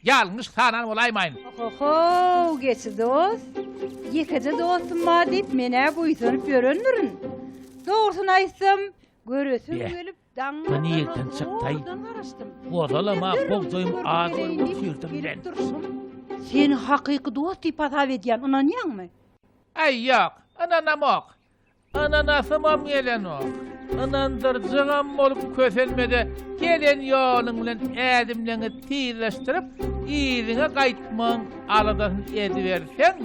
Ýalňyş sanan bolaýmaýyn. Ohohow geçi dost, ýekeje dostum bar diýip men-ä buýsanyp ýörendirin. Dogrusyny aýtsam, göresim Be, gelip daňyň bu nireden otagynda çykdaý? zowaldan garaşdym. Gozalam-a Ýöne dürli bogdaýyň görnüşleri adyny göreýin diýip göçürdim gelip men. durşum. Seni hakyky dost diýip hasap edýän, ynanýaňmy? Aý ýok, ynanamok. Ananasymam gelenok. Ynandyrjygam bolup kösenme-de, gelen ýoluň bilen ädimleňi tizleşdirip, yzyňa gaýtmagyň aladasyny ediberseň,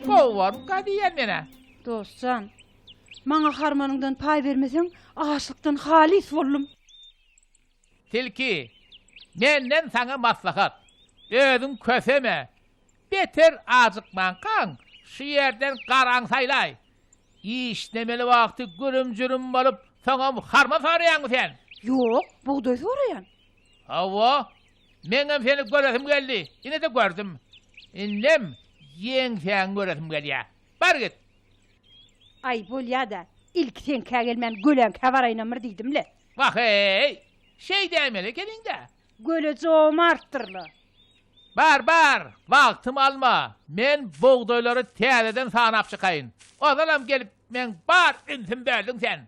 gowarka diýýän men-ä. Dost jan, maňa harmanyňdan paý bermeseň, açlykdan halys boldum. Tilki, Menden saňa maslahat, özüň köseme, beter ajykmankaň, şu ýerden garaň saýlaý. Işlemeli wagty gürüm-jürüm bolup, soňam harma soraýaňmy sen? Ýok, bugdaý soraýan. Hawa, meňem seni göresim geldi, ine-de gördüm. Indem ýeňsäňi göresim gelýär. Bar git! Aý, bolýa-da, ilki seňkä gelmän, göleňkä baraýynam bir diýdim-le. Wah-eý! Şeý däýmeli ekeniň-dä! Göle jomartdyr-la. Bar, bar, wagtymy alma. Men bugdaýlary täzeden sanap çykaýyn. Ozalam gelip, meň bar ünsümi böldüň sen.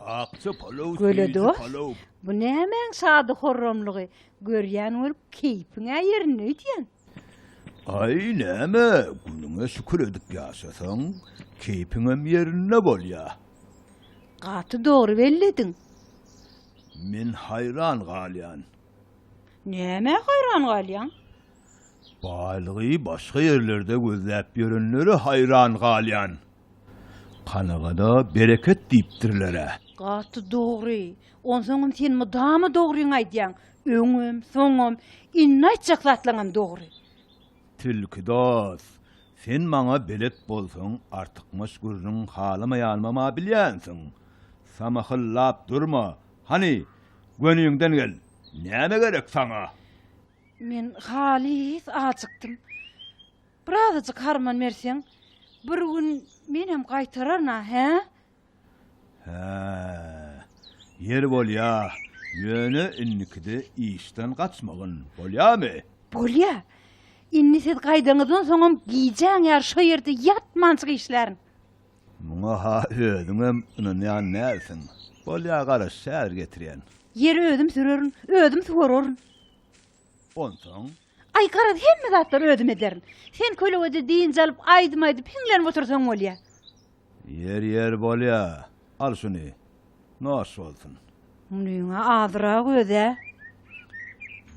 Akja palaw Göle dost, bu nämäň şady-horramlygy, görýän bolup keýpiň-ä ýerinde öýdýän. Aý, näme, günüňe şükür edip ýaşasaň, keýpiňem ýerinde bolýa. Gaty dogry bellediň. Men haýran galýan. Nämä haýran galýaň? Baýlygy başga ýerlerde gözläp ýörenlere haýran galýan. Kanygada bereket diýipdirler-ä. Gaty dogry. Onsoňam sen mydama dogryňy aýdýaň. Öňem, soňam, indi aýtjak zatlaňam dogry. Tilki dos, sen maňa belet bolsaň, artykmaç gürrüň halamaýanymam-a bilýänsiň. Samahyllap durma. Hany, göniňden gel. Näme gerek saňa? Men halys ajykdym. Birazajyk harman berseň, bir gün menem gaýtararyn-a, hä? Hä, ýeri bolýa, ýöne indikide işden gaçmagyn, bolýamy? Bolýa. Indi siz gaýdaňyzdan soňam gijäň ýary şo ýerde ýatmançyk işlärin. Muňa-ha özüňem ynanýan dälsiň. Bolýa, garaş, häzir getirýän. Ýeri özüm sürerin, özüm suwararyn. Onsoň. Aý, garaz, hemme zatlary özüm ederin. Sen kölegede dynç alyp, aýdym aýdyp, hiňlenip otursaň bolýa. Ýer, ýer, bolýa. Al şuny. Noş bolsun. Munyň-a azyrak öz-ä.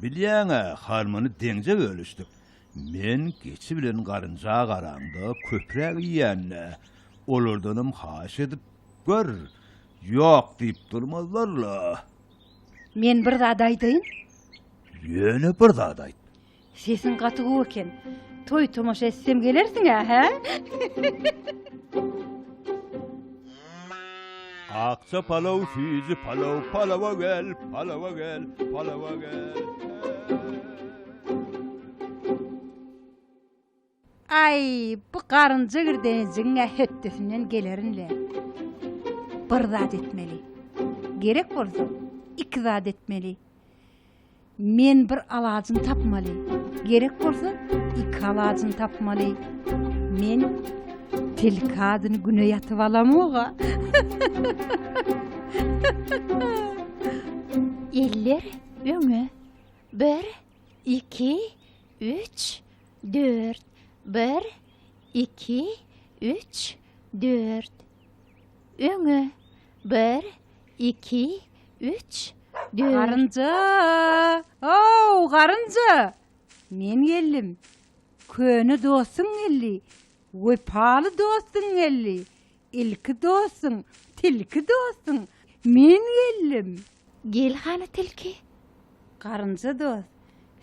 Bilýäň-ä, halmany deňje bölüşdik. Men geçi bilen garynja garaňda köpräk iýän-le, olardanam haýyş edip gör, ýok diýip durmazlar-la. Men bir zat aýdaýyn? Ýöne bir zat aýt. Sesiň gaty gowy eken. Toý tomaşa etsem gelersiň-ä, hä? Akja palaw, süýji palaw, palawa gel, palawa gel, palawa gel. Aý, bu garynja girdenejigiň-ä hötdesinden gelerin-le. Bir zat etmeli. Gerek bolsa, iki zat etmeli. Men bir alajyny tapmaly. Gerek bolsa, iki alajyny tapmaly. Men tilkadyny güne ýatyp alamog-a. Eller öňe. Bir, iki, üç, Dört. Bir. Iki. Üç. Dört. Öňe. Bir. Iki. Üç. Dört. Garynja! Ow, garynja! Men geldim. Köne dostuň geldi. Wepaly dostuň geldi. Ilki dostuň, tilki dostuň, men geldim. Gel hany tilki. Garynja dost,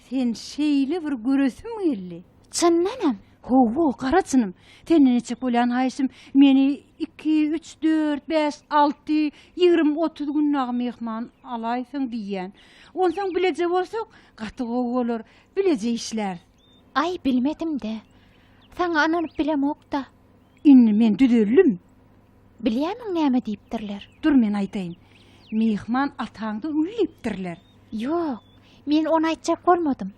sen şeýle bir göresim geldi. Çyndanam? Hawa, gara çynym. Senden etjek bolýan haýyşym, meni iki, üç, dört, bäş, alty, ýigrimi, otuz gün dagy myhman alaýsaň diýýän. Onsoň bileje bolsak, gaty gowy bolar. Bileje işläris. Aý, bilmedim-dä. Saňa ynanyp bilemok-da. Indi men düzeldim. Bilýärmiň näme diýipdirler? Dur men aýdaýyn. Myhman ataňda öl diýipdirler. Ýok, men ony aýtjak bolmadym.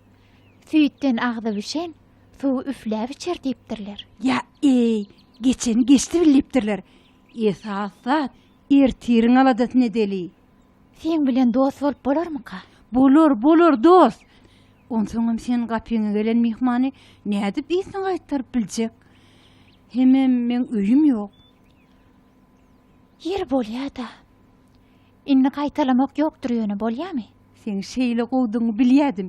Süýtden agzy bişen, suwy üfläp içer diýipdirler. Ýa-eý, geçeni geçdi bil diýipdirler. Esas zat, ertiriň aladasyny edeli. Seň bilen dost bolup bolarmyka? Bolar, bolar, dost! Onsoňam seniň gapyňa gelen myhmany nädip yzyna gaýtaryp biljek? Hemem meň öýüm ýok. Ýeri bolýa-da. Indi gaýtalamak ýokdur ýöne, bolýamy? Seň şeýle gowudygyňy bilýädim.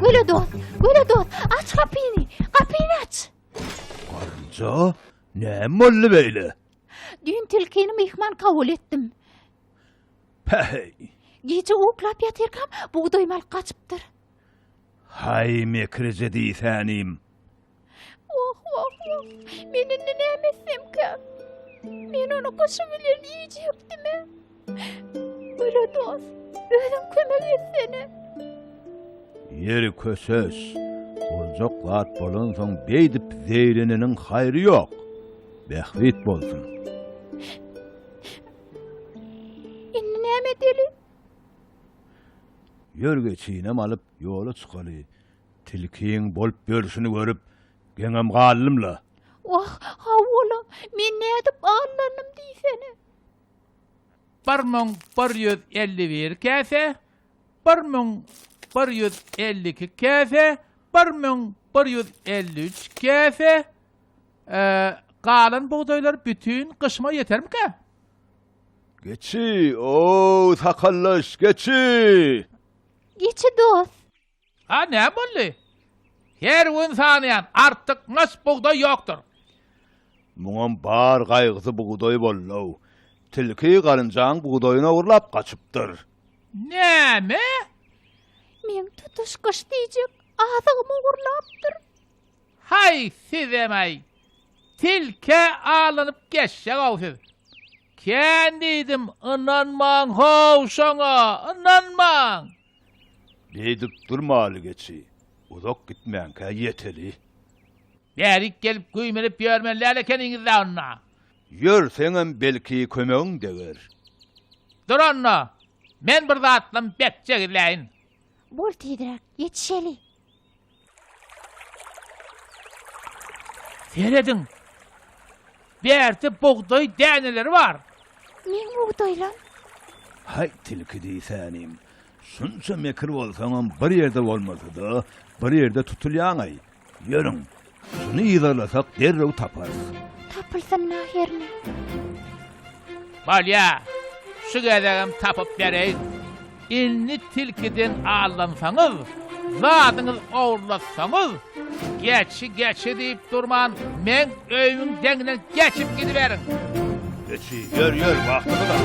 Göle dost, göle dost, aç kapyny, kapyny aç. Garynja, näme boldy beýle? Düýn tilkini myhman kabul etdim. Päheý. Gije uklap ýatyrkam bugdaý mal gaçypdyr. Haý mekrije diýsänim. Wah, wah, wah. Men indi näme etsemkä? Men ony gyşy bilen iýjekdimi? Göre dost, özüň kömek etsene. Ýeri köses. Boljak zat bolansoň beýdip zeýreneniň haýry ýok. Bähbit bolsun. Indi näme edeli? Ýörgä çyýnam alyp ýola çykaly. Tilkiň bolup ýörşüni görüp, geňem galdym-la. Wah, hawa-la, men nädip aldanym diýsene. Bir müň bir ýüz elli bir käse, bir müň bir ýüz elli iki käse, bir müň bir ýüz elli üç käse, e, galan bugdaýlar bütin gyşyma ýetermikä? Geçi, o-ow, sakallaş, geçi! Geçi dost! A näme boldy? Her gün sanaýan, artyk naç bugdaý ýokdur. Muňam bar gaýgysy bugdaý bollow. Tilki garynjaň bugdaýyny ogurlap gaçypdyr. Näme? Meň tutuş gyş diýjek azygymy ogurlapdyr. Haý sizem-aý! Tilkä alanyp geçjek-ow siz. Kän diýdim, ynanmaň-how şoňa, ynanmaň! Beýdip durmaly geçi, uzak gitmänkä ýeteli. Bärik gelip güýmenip ýörmeli däl ekeniňiz-dä onda. Ýörseňem belki kömegiň deger. Dur onda, men bir zatlam bek jegizläýin. Bol tizräk, ýetişeli. Serediň. Bärde bugdaý däneleri bar. Meň bugdaýlam. Haý tilki diýsänim. Şunça mekir bolsaňam bir ýerde bolmasa-da, bir ýerde tutulýaňaý. Ýörüň, Şuny yzarlasak derrew taparys. Tapylsyn mähirli. Bolýa. Şu gezegem tapyp bereýin. Indi tilkiden aldansaňyz, zadyňyz ogurlatsaňyz, geçi geçi diýip durman, meň öýümiň deňinden geçip gidiberiň. Geçi, ýör, ýör, wagtymyz az.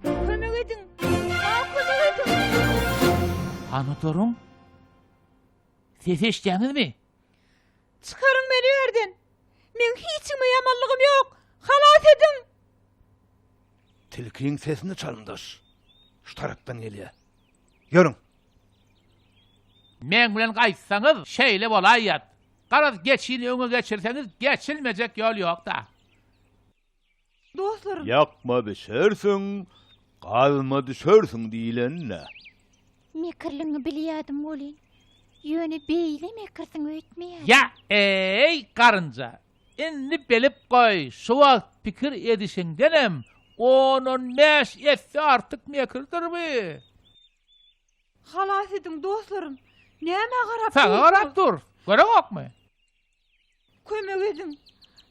Kömek ediň! Maňa kömek ediň! Hany oturyň? Ses eşitýäňizmi? Çykaryň meni bu ýerden! Meň hiç kime ýamanlygym ýok! Halas ediň! Tilkiň sesini çalymdaş. Şu tarapdan gelýär. Ýörüň! Meň bilen gaýtsaňyz, şeýle bolaýýat. Garaz, geçini öňe geçirseňiz, geçilmejek ýol ýok-da. Dostlarym. Ýakma bişersiň, gazma düşersiň diýlenine. Mekirligiňi bilýädim welin, ýöne beýle mekirsiň öýtmeýädim. Ýa, eý, garynja, indi bilip goý, şu wagt pikir edişiňdenem on-on bäş esse artyk mekirdir bu. Halas ediň, dostlarym, nämä garap dursuňyz? Saňa garap durus, görüňokmy? Kömek ediň!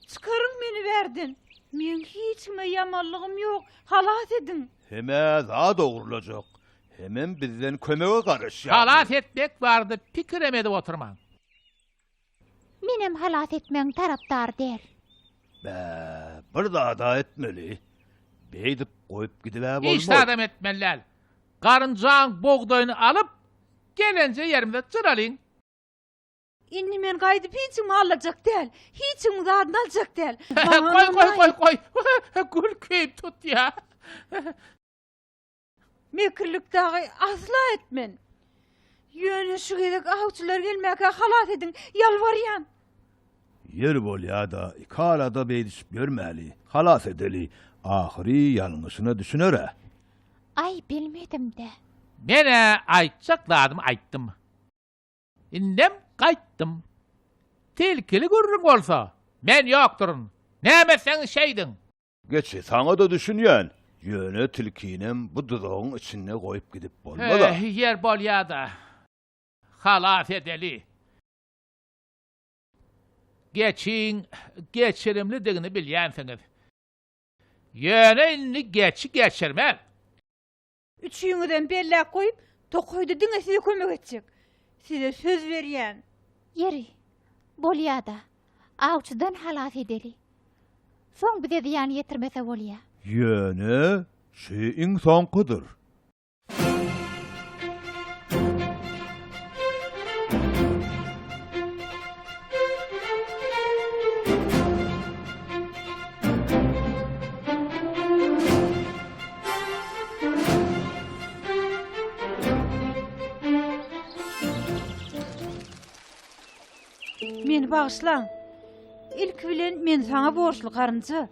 Çykaryň meni bärden! Meň hiç kime ýamanlygym ýok! Halas ediň! Hemä zat ogurlajak, hemem bizden kömege garaşýarlar. Halas etmek barada pikirem edip oturmaň. Menem halas etmegiň tarapdary däl. Bä, bir zad-a etmeli. Beýdip goýup gidib-ä bolmaz. Hiç zadam etmeli däl. Garynjaň bogdaýyny alyp, gelenje ýerimize jyralyň. Indi men gaýdyp hiç kimi alajak däl. Hiç kimi zadyny aljak däl. Goý, goý, goý, goý. Gül keýp tut ýa. Mekirlik dagy asla etmen. Ýöne şu gezek awçylar gelmäkä halas ediň, ýalbarýan. Ýer bolýa-da, iki arada beýdişip ýörmäli. Halas edeli. Ahyry ýalňyşyna düşüner-ä. Aý, bilmedim-dä. Men-ä aýtjak zadymy aýtdym. Indem gaýtdym. Tilkili gürrüň bolsa, men ýokduryn. Näme etseňiz şeýdiň. Geçi, saňa-da düşünýän. Ýöne tilkinem bu duzagyň içinde goýup gidip bolmaz-a. Hä, ýer bolýa-da. Halas edeli. Geçiň geçirimlidigini bilýänsiňiz. Ýöne indi geçi geçirmez. Üçüňizem belläp goýup, tokaýda diňe size kömek etjek. Size söz berýän. Ýeri, bolýa-da, awçydan halas edeli. Soň bize zyýan ýetirmese bolýa. Ýöne, şu iň soňkudyr. Meni bagyşlaň. Ilki bilen men saňa borçly garynja.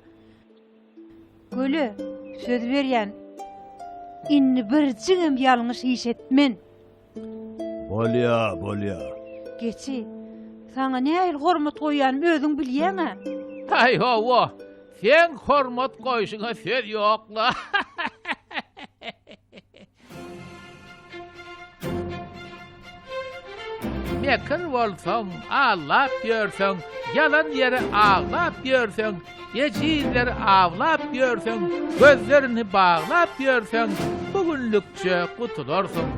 Göle söz berýän. Indi birjigem ýalňyş iş etmen. Bolýa, bolýa. Geçi, saňa nähili hormat goýýanymy özüň bilýäň-ä. Aý, hawa, seň hormat goýşuňa söz ýok-la. Mekir bolsaň, allap ýörseň, ýalan ýere aglap ýörseň, Ejizleri awlap ýörseň, gözlerini baglap ýörseň, bu günlükçe gutularsyň.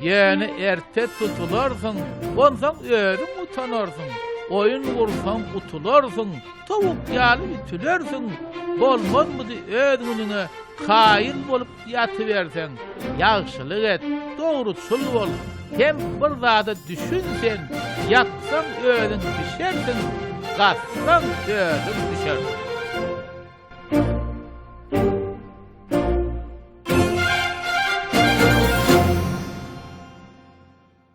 Ýöne erte tutularsyň, onsoň özüň utanarsyň. Oýun gursaň utularsyň, towuk ýaly ütülersiň. Bolmazmydy öz günüňe kaýyl bolup Ýatyberseň, ýagşylyk et, dogruçyl bol, hem bir zada düşün sen, ýatsaň özüň bişersiň, gatsaň özüň düşersiň.